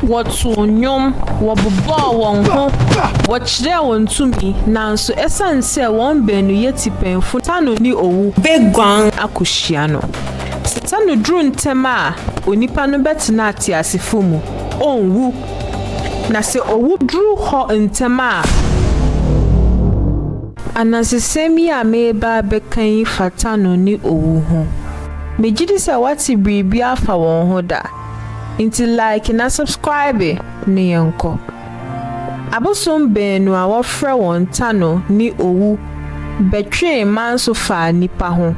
Wɔtoo nnwom, wɔbobɔɔ wɔn ho, wɔkyerɛɛ wɔn tumi, nanso esiane sɛ wɔn baanu yɛ tipɛnfo nti, Setano ne owu beguan akohyia no. Setano duru ntɛm a, onipa no bɛtena ateasefo mu, onwu, na sɛ owu duru hɔ ntɛm a, Anansesɛm yi a mereba abɛka yi fa Tano ne owu ho. Megye di sɛ woate biribi afa wɔn ho da. Nti like na subscribe ne yɛnkɔ. Abosom baanu a wɔfrɛ wɔn Tano ne Owu bɛtwee manso faa nnipa ho.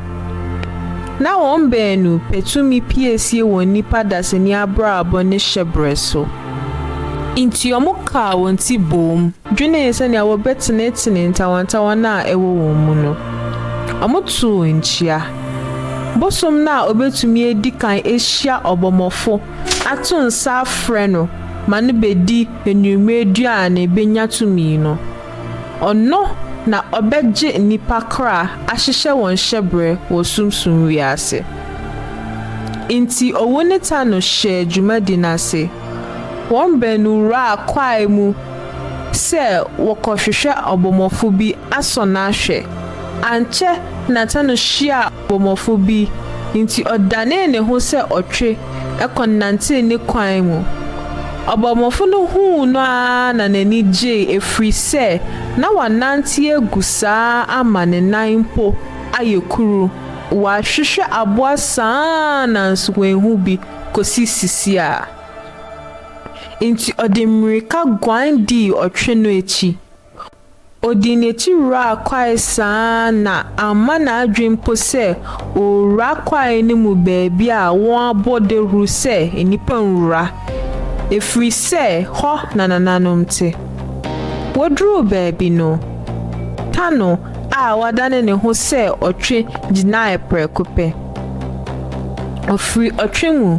Na wɔn baanu pɛ tumi piesie wɔn nnipa dasani abrabɔ ne hyɛbrɛ so. Nti wɔkaa wɔn ti boom. Dwenee sɛnea wɔbɛtenetene ntawantawa no a ɛwɔ wɔn mu no. Wɔtoo nkyia. Bosom no a obetumi adi kan ahyia ɔbɔmmɔfo ato nsa afrɛ no ma no bedi anwummere aduan na ebenya tumi no, ɔno na ɔbɛgye nnipa kra ahyehyɛ wɔn hyɛbrɛ wɔ sunsum wiase. Enti owu ne ta no hyɛɛ dwumadi no ase. Wɔn baanu wuraa kwae mu sɛ wɔkɔhwehwɛ ɔbɔmmɔfo bi asɔ no ahwɛ. Ankyɛ na Tano hyiaa ɔbɔmmɔfo bi, enti ɔdanee ne ho sɛ ɔtwe kɔnantee ne kwan mu. Ɔbɔmmɔfo no huu no ara na n'ani gyei efiri sɛ na wanante agu saa ama ne nan mpo ayɛ kuru. Wahwehwɛ aboa saa ara nanso wanhu bi kɔsi sisiaa. Enti ɔde mmirika guan dii ɔtwe no akyi. Odii n'akyi wuraa kwae saa ara na amma n'adwene mpo sɛ ɔrewura kwae no mu baabi a wɔabɔ dawuru sɛ nnipa nwura, ɛfiri sɛ hɔ na nananom te. Wɔduruu baabi no, Tano a wadane ne ho sɛ ɔtwe gyinaeɛ prɛko pɛ. Ɔfiri ɔtwe mu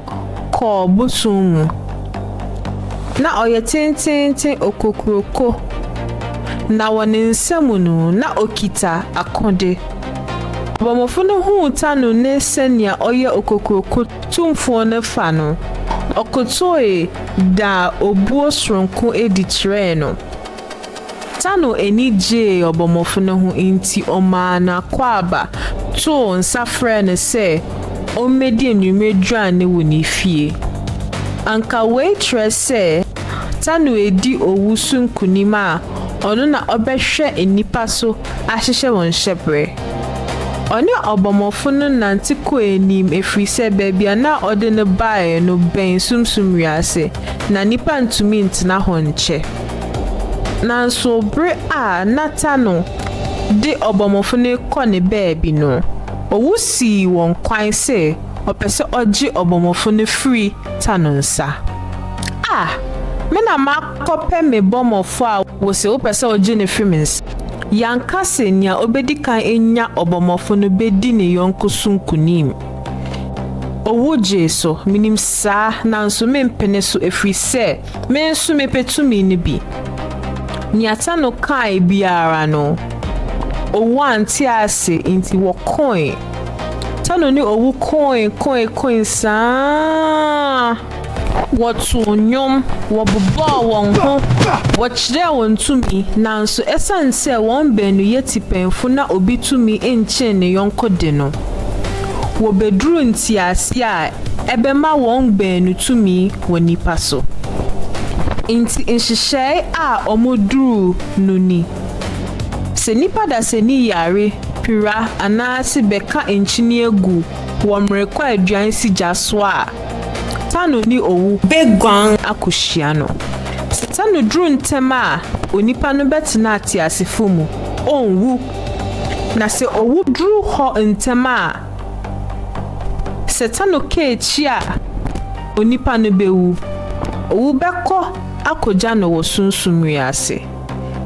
kɔɔ bosom mu. Na ɔyɛ tenteenten okokuroko, na wɔ ne nsam no, na ɔkita akode. Ɔbɔmmɔfo no huu Tanu ne sɛnea ɔyɛ okokuroko tumfoɔ no fa no, ɔkotoe daa obuo soronko adi kyerɛɛ no. Tano ani gyee ɔbɔmmɔfo no ho nti ɔmaa n'akwaaba too nsa frɛɛ no sɛ ommedi anwummere aduan no wɔ ne fie. Anka wei kyerɛ sɛ Tano redi owu so nkonim a ɔno na ɔbɛhwɛ nnipa so ahyehyɛ wɔn hyɛberɛ. Ɔne ɔbɔmmɔfo no nante kɔɔ anim ɛfiri sɛ baabi a na ɔde no baeɛ no bɛn sunsum wiase, na nnipa ntumi ntena hɔ nkyɛ. Nanso bere a Natano de ɔbɔmmɔfo no rekɔ ne baabi no, owu sii wɔn kwan sɛ ɔpɛ sɛ ɔgye ɔbɔmmɔfo no firi ta no nsa. A Me na makɔpɛ me bɔmmɔfo a wose wopɛ sɛ wogye no firi me nsa. Yɛanka sɛ nea obedi kan anya ɔbɔmmɔfo no bedi ne yɔnko so nkonim. Owu gyee so, minim saa, nanso mempene so efiri sɛ Me nso mepɛ tumi no bi. Nea Tano kae biara no, owu ante ase nti wɔkoe. Tano ne owu koe koe koe saa. Wɔtoo nnwom, wɔbobɔɔ wɔn ho, wɔkyerɛɛ wɔn tumi, nanso esiane sɛ wɔn baanu yɛ tipɛnfo na obi tumi nkyen ne yɔnko de no, wobeduruu ntease a ɛbɛma wɔn baanu tumi wɔ nnipa so. Enti nhyehyɛe a wɔduruu no ni, Sɛ nnipa dasani yare, pira anaase bɛka nkyinie gu wɔ mmerekwaduan si gya so a, Tano ne owu bɛguan akɔhyia no. Sɛ Tano duru ntɛm a, onipa no bɛtena ateasefo mu, ɔnwu. Na sɛ owu duru hɔ ntɛm a, sɛ Tano ka akyi a, Onipa no bɛwu. Owu bɛkɔ akɔgya no wɔ sunsum wiase.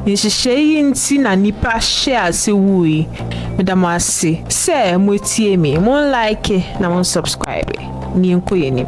Nhyehyɛe yi nti na nnipa hyɛɛ ase wui. Meda mo ase sɛ moatie me. Monlaeke na monsɔbskraibe na yɛnkɔ yɛn anim.